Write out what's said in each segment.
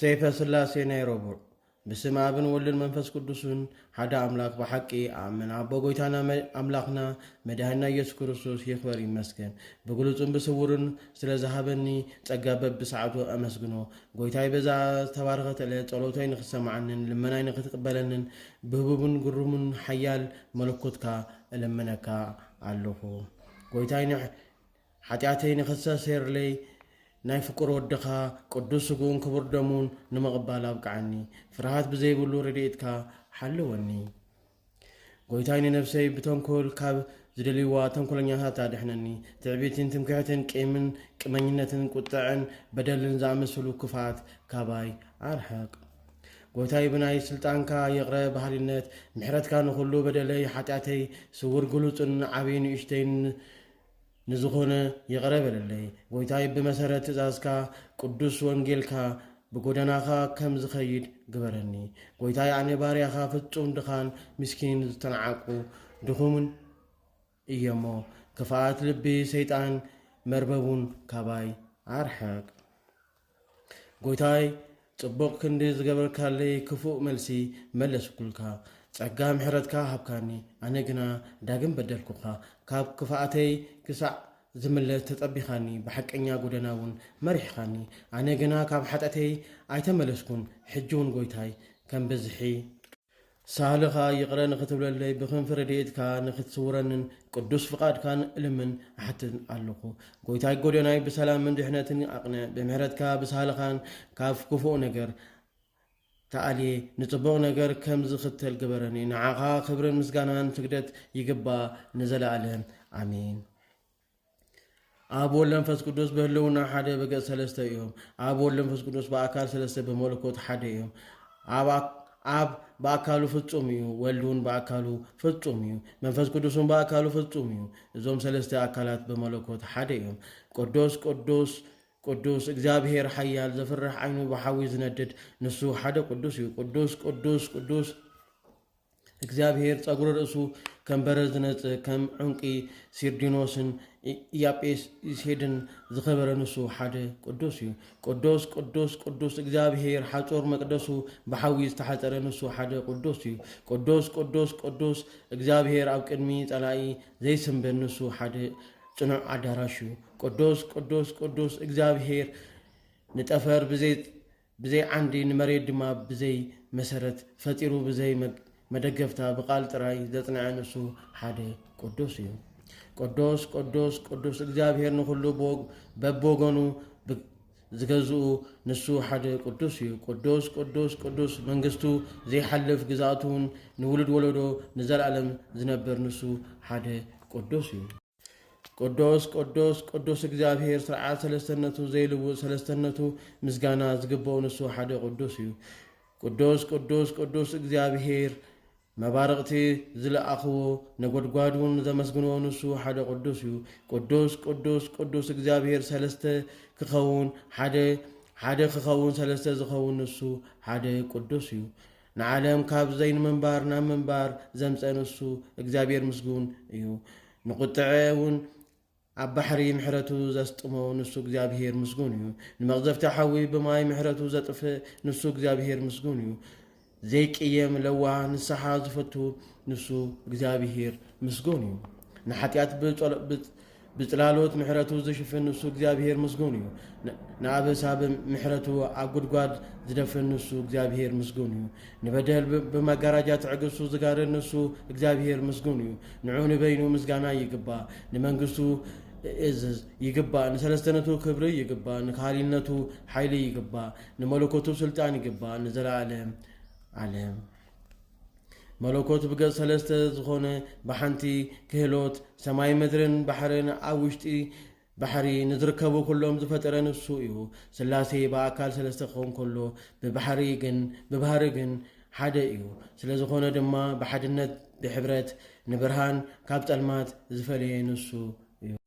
ሰይፈ ስላሴ ናይ ረቡዕ። ብስም ኣብን ወልድን መንፈስ ቅዱስን ሓደ ኣምላክ ብሓቂ ኣኣምን ኣቦ ጎይታና ኣምላክና መድሃኒና ኢየሱስ ክርስቶስ ይክበር ይመስገን ብግሉጽን ብስውርን ስለ ዝሃበኒ ጸጋ በብሰዓቱ ኣመስግኖ ጎይታይ በዛ ዝተባረኸት ዕለት ጸሎተይ ንክትሰማዓንን ልመናይ ንክትቅበለንን ብህቡብን ግሩምን ሓያል መለኮትካ እልምነካ ኣለኹ ጎይታይ ሓጢኣተይ ንክተሰሴርለይ ናይ ፍቁር ወድኻ ቅዱስ ስግኡን ክቡር ደሙን ንምቕባል ኣብቅዓኒ። ፍርሃት ብዘይብሉ ረድኤትካ ሓልወኒ። ጎይታይ ንነፍሰይ ብተንኮል ካብ ዝደልይዋ ተንኮለኛታት ኣድሕነኒ። ትዕቢትን ትምክሕትን ቂምን ቅመኝነትን ቁጥዐን በደልን ዝኣመሰሉ ክፍኣት ካባይ ኣርሕቕ። ጎይታይ ብናይ ስልጣንካ ይቕረ በሃሊነት ምሕረትካ ንኹሉ በደለይ ሓጢኣተይ ስውር ግሉጽን ዓብይ ንእሽተይን ንዝኾነ ይቕረ በለለይ። ጐይታይ ብመሰረት ትእዛዝካ ቅዱስ ወንጌልካ ብጐደናኻ ከም ዝኸይድ ግበረኒ። ጐይታይ ኣነ ባርያኻ ፍጹም ድኻን ምስኪንን ዝተናዓቁ ድኹምን እየሞ ክፍኣት ልቢ ሰይጣን መርበቡን ካባይ ኣርሕቅ። ጎይታይ ጽቡቅ ክንዲ ዝገበርካለይ ክፉእ መልሲ መለስኩልካ ጸጋ ምሕረትካ ሃብካኒ ኣነ ግና ዳግም በደልኩካ ካብ ክፋኣተይ ክሳዕ ዝምለስ ተጸቢኻኒ ብሓቀኛ ጎደና እውን መሪሕኻኒ ኣነ ግና ካብ ሓጢኣተይ ኣይተመለስኩን ሕጂ እውን ጎይታይ ከም ብዝሒ ሳህልኻ ይቕረ ንኽትብለለይ ብክንፊ ረድኤትካ ንኽትስውረንን ቅዱስ ፍቓድካን እልምን እሓትትን ኣሎኹ። ጐይታይ ጐደናይ ብሰላምን ድሕነትን ኣቕንዕ፣ ብምሕረትካ ብሳህልኻን ካብ ክፉእ ነገር ተኣልየ ንጽቡቕ ነገር ከም ዝኽተል ግበረኒ። ንዓኻ ክብርን ምስጋናን ስግደት ይግባእ ንዘለኣለም ኣሜን። ኣብ ወልድ መንፈስ ቅዱስ ብህልውና ሓደ ብገጽ ሰለስተ እዮም። ኣብ ወልድ መንፈስ ቅዱስ ብኣካል ሰለስተ ብመለኮት ሓደ እዮም። ኣብ ብኣካሉ ፍጹም እዩ፣ ወልድ እውን ብኣካሉ ፍጹም እዩ፣ መንፈስ ቅዱስ እውን ብኣካሉ ፍጹም እዩ። እዞም ሰለስተ ኣካላት ብመለኮት ሓደ እዮም። ቅዱስ ቅዱስ ቅዱስ እግዚኣብሔር ሓያል ዘፍርሕ ዓይኑ ብሓዊ ዝነድድ ንሱ ሓደ ቅዱስ እዩ። ቅዱስ ቅዱስ ቅዱስ እግዚኣብሄር ጸጕሪ ርእሱ ከም በረድ ዝነጽ ከም ዑንቂ ሲርዲኖስን ኢያጴስሄድን ዝኸበረ ንሱ ሓደ ቅዱስ እዩ። ቅዱስ ቅዱስ ቅዱስ እግዚኣብሄር ሓጹር መቅደሱ ብሓዊ ዝተሓጸረ ንሱ ሓደ ቅዱስ እዩ። ቅዱስ ቅዱስ ቅዱስ እግዚኣብሄር ኣብ ቅድሚ ጸላኢ ዘይስንብድ ንሱ ሓደ ጽኑዕ ኣዳራሽ እዩ። ቅዱስ ቅዱስ ቅዱስ እግዚኣብሄር ንጠፈር ብዘይ ብዘይ ዓንዲ ንመሬት ድማ ብዘይ መሰረት ፈጢሩ ብዘይ መደገፍታ ብቃል ጥራይ ዘጽንዐ ንሱ ሓደ ቅዱስ እዩ። ቅዱስ ቅዱስ ቅዱስ እግዚኣብሔር ንኹሉ በብወገኑ ዝገዝኡ ንሱ ሓደ ቅዱስ እዩ። ቅዱስ ቅዱስ ቅዱስ መንግስቱ ዘይሓልፍ ግዝኣቱን ንውሉድ ወለዶ ንዘለኣለም ዝነብር ንሱ ሓደ ቅዱስ እዩ። ቅዱስ ቅዱስ ቅዱስ እግዚኣብሄር ስርዓት ሰለስተነቱ ዘይልውጥ ሰለስተነቱ ምስጋና ዝግበኦ ንሱ ሓደ ቅዱስ እዩ። ቅዱስ ቅዱስ ቅዱስ እግዚኣብሄር መባርቕቲ ዝለኣኽዎ ነጎድጓድ እውን ዘመስግንዎ ንሱ ሓደ ቅዱስ እዩ። ቅዱስ ቅዱስ ቅዱስ እግዚኣብሄር ሰለስተ ክኸውን ሓደ ሓደ ክኸውን ሰለስተ ዝኸውን ንሱ ሓደ ቅዱስ እዩ። ንዓለም ካብ ዘይንምንባር ናብ ምንባር ዘምጸ ንሱ እግዚኣብሔር ምስጉን እዩ። ንቁጥዐ እውን ኣብ ባሕሪ ምሕረቱ ዘስጥሞ ንሱ እግዚኣብሔር ምስጉን እዩ። ንመቕዘፍቲ ሓዊ ብማይ ምሕረቱ ዘጥፍእ ንሱ እግዚኣብሔር ምስጉን እዩ። ዘይቅየም ለዋህ ንስሓ ዝፈቱ ንሱ እግዚኣብሔር ምስጉን እዩ። ንሓጢኣት ብጽላሎት ምሕረቱ ዝሽፍን ንሱ እግዚኣብሄር ምስጉን እዩ። ንኣበሳ ብምሕረቱ ኣብ ጉድጓድ ዝደፍን ንሱ እግዚኣብሄር ምስጉን እዩ። ንበደል ብመጋራጃ ትዕግስቱ ዝጋርድ ንሱ እግዚኣብሄር ምስጉን እዩ። ንዑ ንበይኑ ምስጋና ይግባእ፣ ንመንግስቱ እዝዝ ይግባእ፣ ንሰለስተነቱ ክብሪ ይግባእ፣ ንካህሊነቱ ሓይሊ ይግባእ፣ ንመለኮቱ ስልጣን ይግባእ ንዘለኣለም ዓለም። መለኮት ብገጽ ሰለስተ ዝኾነ ብሓንቲ ክህሎት ሰማይ ምድርን ባሕርን ኣብ ውሽጢ ባሕሪ ንዝርከቡ ኩሎም ዝፈጠረ ንሱ እዩ። ስላሴ ብኣካል ሰለስተ ክኸውን ከሎ ብባሕሪ ግን ብባህሪ ግን ሓደ እዩ። ስለ ዝኾነ ድማ ብሓድነት ብሕብረት ንብርሃን ካብ ጸልማት ዝፈለየ ንሱ እዩ።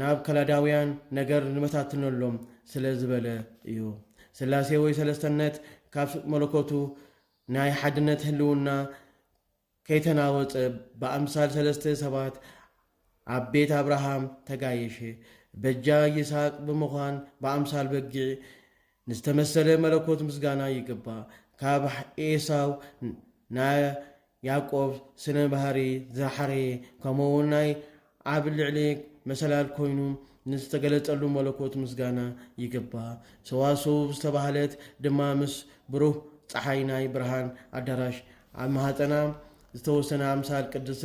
ናብ ከላዳውያን ነገር ንበታትነሎም ስለ ዝበለ እዩ። ስላሴ ወይ ሰለስተነት ካብ መለኮቱ ናይ ሓድነት ህልውና ከይተናወጸ ብኣምሳል ሰለስተ ሰባት ኣብ ቤት ኣብርሃም ተጋየሸ። በጃ ይስሃቅ ብምዃን ብኣምሳል በጊዕ ንዝተመሰለ መለኮት ምስጋና ይግባእ። ካብ ኤሳው ናይ ያዕቆብ ስነ ባህሪ ዝሓረየ ከምኡውን ናይ ኣብ ልዕሊ መሰላል ኮይኑ ንዝተገለጸሉ መለኮት ምስጋና ይግባእ። ሰዋስው ዝተባህለት ድማ ምስ ብሩህ ጸሓይ ናይ ብርሃን ኣዳራሽ ኣብ ማህጸና ዝተወሰነ ኣምሳል ቅድስት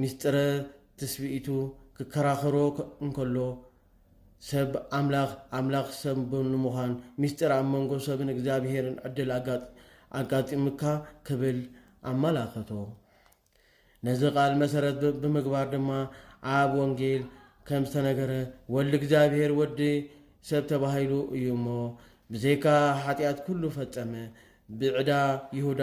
ምስጢረ ትስብኢቱ ክከራኸሮ እንከሎ፣ ሰብ ኣምላኽ፣ ኣምላኽ ሰብ ንምዃን፣ ምስጢር ኣብ መንጎ ሰብን እግዚኣብሄርን ዕድል ኣጋጢሙካ ክብል ኣመላኸቶ። ነዚ ቃል መሰረት ብምግባር ድማ ኣብ ወንጌል ከም ዝተነገረ ወልድ እግዚኣብሄር ወዲ ሰብ ተባሂሉ እዩ እሞ ብዘይካ ሓጢኣት ኩሉ ፈጸመ ብዕዳ ይሁዳ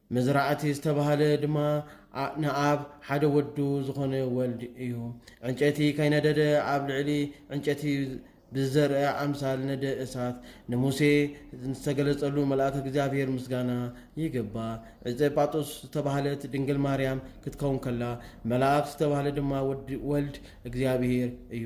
መዝራእቲ ዝተባህለ ድማ ንኣብ ሓደ ወዱ ዝኾነ ወልድ እዩ። ዕንጨቲ ከይነደደ ኣብ ልዕሊ ዕንጨቲ ብዝዘርእ ኣምሳል ነደ እሳት ንሙሴ ዝተገለጸሉ መልኣክ እግዚኣብሔር ምስጋና ይግባ። ዕፀ ጳጦስ ዝተባህለት ድንግል ማርያም ክትከውን ከላ መልኣክ ዝተባህለ ድማ ወልድ እግዚኣብሔር እዩ።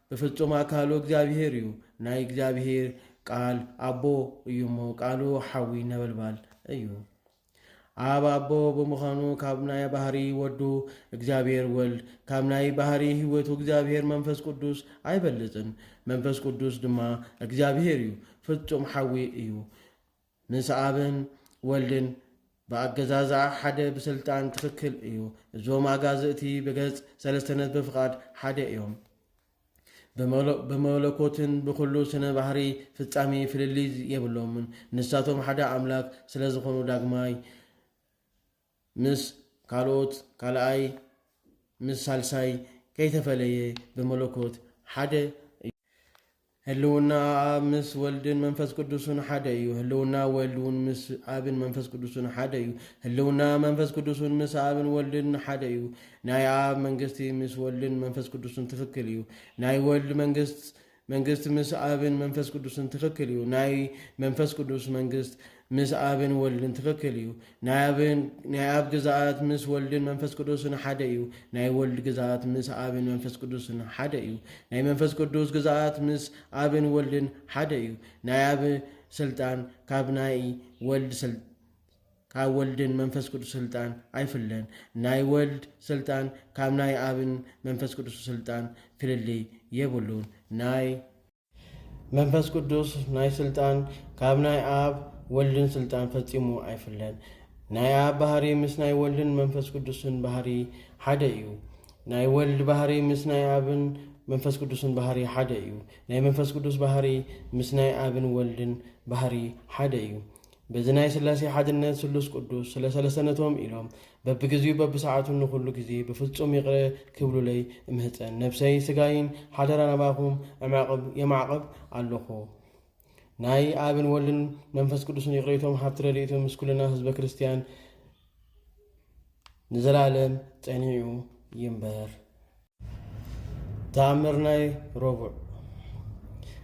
ብፍጹም ኣካሉ እግዚኣብሄር እዩ። ናይ እግዚኣብሄር ቃል ኣቦ እዩ እሞ ቃሉ ሓዊ ነበልባል እዩ። ኣብ ኣቦ ብምዃኑ ካብ ናይ ባህሪ ወዱ እግዚኣብሄር ወልድ ካብ ናይ ባህሪ ህይወቱ እግዚኣብሄር መንፈስ ቅዱስ ኣይበልጽን። መንፈስ ቅዱስ ድማ እግዚኣብሄር እዩ፣ ፍጹም ሓዊ እዩ። ምስ ኣብን ወልድን ብኣገዛዝኣ ሓደ ብስልጣን ትኽክል እዩ እዞም ኣጋዝእቲ ብገጽ ሰለስተነት ብፍቓድ ሓደ እዮም ብመለኮትን ብኹሉ ስነ ባህሪ ፍጻሜ ፍልልይ የብሎምን ንሳቶም ሓደ ኣምላክ ስለዝኾኑ ዳግማይ ምስ ካልኦት ካልኣይ ምስ ሳልሳይ ከይተፈለየ ብመለኮት ሓደ እዩ። ህልውና ኣብ ምስ ወልድን መንፈስ ቅዱስን ሓደ እዩ። ህልውና ወልድ እውን ምስ ኣብን መንፈስ ቅዱስን ሓደ እዩ። ህልውና መንፈስ ቅዱስን ምስ ኣብን ወልድን ሓደ እዩ። ናይ ኣብ መንግስቲ ምስ ወልድን መንፈስ ቅዱስን ትክክል እዩ። ናይ ወልድ መንግስት መንግስት ምስ ኣብን መንፈስ ቅዱስን ትክክል እዩ ናይ መንፈስ ቅዱስ መንግስት ምስ ኣብን ወልድን ትክክል እዩ ናይ ኣብን ናይ ኣብ ግዝኣት ምስ ወልድን መንፈስ ቅዱስን ሓደ እዩ ናይ ወልድ ግዝኣት ምስ ኣብን መንፈስ ቅዱስን ሓደ እዩ ናይ መንፈስ ቅዱስ ግዝኣት ምስ ኣብን ወልድን ሓደ እዩ ናይ ኣብ ስልጣን ካብ ናይ ወልድ ስልጣን ካብ ወልድን መንፈስ ቅዱስ ስልጣን ኣይፍለን። ናይ ወልድ ስልጣን ካብ ናይ ኣብን መንፈስ ቅዱስ ስልጣን ፍልልይ የብሉን። ናይ መንፈስ ቅዱስ ናይ ስልጣን ካብ ናይ ኣብ ወልድን ስልጣን ፈጺሙ ኣይፍለን። ናይ ኣብ ባህሪ ምስ ናይ ወልድን መንፈስ ቅዱስን ባህሪ ሓደ እዩ። ናይ ወልድ ባህሪ ምስ ናይ ኣብን መንፈስ ቅዱስን ባህሪ ሓደ እዩ። ናይ መንፈስ ቅዱስ ባህሪ ምስ ናይ ኣብን ወልድን ባህሪ ሓደ እዩ። በዚ ናይ ሥላሴ ሓድነት ስሉስ ቅዱስ ስለ ሰለሰነቶም ኢሎም በብግዚኡ በብሰዓቱን ንኹሉ ጊዜ ብፍጹም ይቕረ ክብሉለይ እምህጸን ነብሰይ ስጋይን ሓደራ ናባኹም እማዕቕብ የማዕቕብ ኣሎኹ። ናይ ኣብን ወልድን መንፈስ ቅዱስን ይቕሬቶም ሃብቲ ረድኤቶም ምስ ኩልና ህዝበ ክርስቲያን ንዘላለም ጸኒዑ ይንበር። ተኣምር ናይ ረቡዕ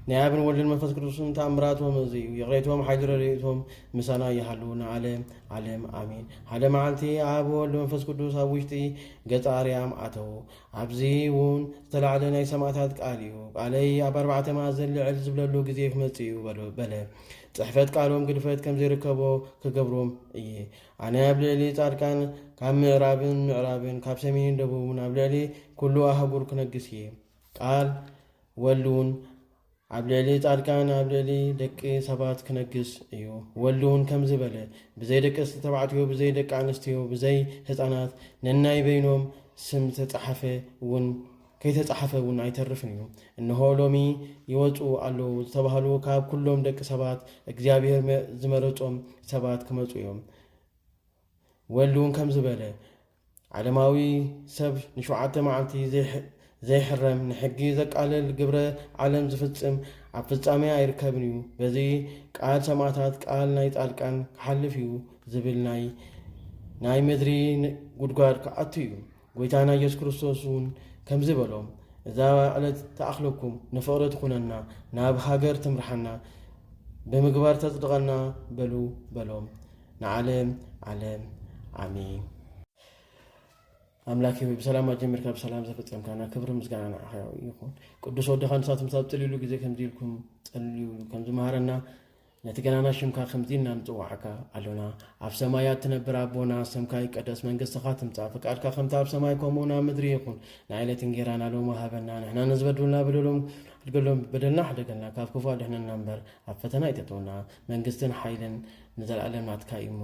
ናይ ኣብን ወልድን መንፈስ ቅዱስን ተኣምራቶም እዚ እዩ ይቕሬቶም ሓይሊ ረድኤቶም ምሳና ይሃሉ ንዓለም ዓለም ኣሜን ሓደ መዓልቲ ኣብ ወልድ መንፈስ ቅዱስ ኣብ ውሽጢ ገፀ ኣርያም ኣተዉ ኣብዚ እውን ዝተላዕለ ናይ ሰማእታት ቃል እዩ ቃለይ ኣብ ኣርባዕተ ማእዘን ልዕል ዝብለሉ ግዜ ክመፅእ እዩ በለ ፅሕፈት ቃሎም ግድፈት ከም ዘይርከቦ ክገብሮም እየ ኣነ ኣብ ልእሊ ጻድቃን ካብ ምእራብን ምዕራብን ካብ ሰሜንን ደቡብን ኣብ ልእሊ ኩሉ ኣህጉር ክነግስ እየ። ቃል ወልድውን ኣብ ልእሊ ጻድቃን ኣብ ልእሊ ደቂ ሰባት ክነግስ እዩ። ወልድውን ከምዚ በለ፣ ብዘይ ደቅስቲ ተባዕትዮ፣ ብዘይ ደቂ ኣንስትዮ፣ ብዘይ ህፃናት፣ ነናይ በይኖም ስም ዝተጻሓፈ እውን ከይተጻሕፈ እውን ኣይተርፍን እዩ። እንሆ ሎሚ ይወጽኡ ኣለዉ ዝተባህሉ ካብ ኩሎም ደቂ ሰባት እግዚኣብሔር መ- ዝመረጾም ሰባት ክመጹ እዮም። ወልድ እውን ከምዚ በለ፣ ዓለማዊ ሰብ ንሸውዓተ መዓልቲ ዘይሕ- ዘይሕረም፣ ንሕጊ ዘቃልል፣ ግብረ ዓለም ዝፍጽም፣ ኣብ ፍጻሜ ኣይርከብን እዩ። በዚ ቃል ሰማዕታት፣ ቃል ናይ ጻድቃን ክሓልፍ እዩ ዝብል ናይ ናይ ምድሪ ን- ጉድጓድ ክኣቱ እዩ። ጐይታና ኢየሱስ ክርስቶስ እውን ከምዚ በሎም፣ እዛ ዕለት ትኣኽለኩም፣ ንፍቕሪ ትኹነና፣ ናብ ሃገር ትምርሓና፣ ብምግባር ተጽድቐና በሉ በሎም። ንዓለም ዓለም ዓሜን። ኣምላክ ሆይ ብሰላም ኣጀሚርካ ብሰላም ዘፈፀምካና ክብሪ ምስጋና ንዓኻ ይኹን። ቅዱስ ወድኻ ንሳቶም ሳብ ጥልሉ ግዜ ከምዚ ኢልኩም ጸልዩ ከምዝመሃረና ነቲ ገናና ሽምካ ከምዚ ኢልና ንጽውዓካ ኣሎና ኣብ ሰማያት ትነብር ኣቦና ስምካ ይቀደስ መንግስትኻ ትምጻእ ፍቃድካ ከምቲ ኣብ ሰማይ ከምኡ ናብ ምድሪ ይኹን ናይ ዕለት እንጌራና ሎሚ ሃበና ንሕና ንዝበድሉና በደሎም ኣድገሎም በደልና ሓደገልና ካብ ክፉ ኣድሕነና እምበር ኣብ ፈተና ይተተውና መንግስትን ሓይልን ንዘለኣለም ናትካ እዩ እሞ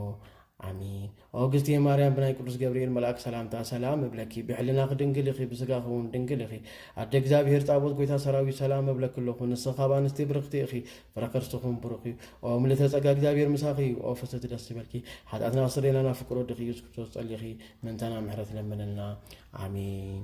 ኣሜን ኦ እግዝቴ ማርያም ብናይ ቅዱስ ገብርኤል መልኣክ ሰላምታ ሰላም እብለኪ ብሕልናኺ ድንግል ኢኺ ብስጋኺ እውን ድንግል ኢኺ ኣደ እግዚኣብሄር ጣቦት ጎይታ ሰራዊት ሰላም እብለኪ ኣለኹ ንስኺ ካብ ኣንስቲ ብርኽቲ ኢኺ ፍረከርስኹም ብሩኽ እዩ ኦ ምልእተ ጸጋ እግዚኣብሄር ምሳኺ እዩ ኦ ፍስቲ ደስ ዝበልኪ ሓጢኣትና ኣስረየና ናብ ፍቅር ወድኺ ኢየሱስ ክርስቶስ ጸሊኺ ምንተና ምሕረት ለምንልና ኣሜን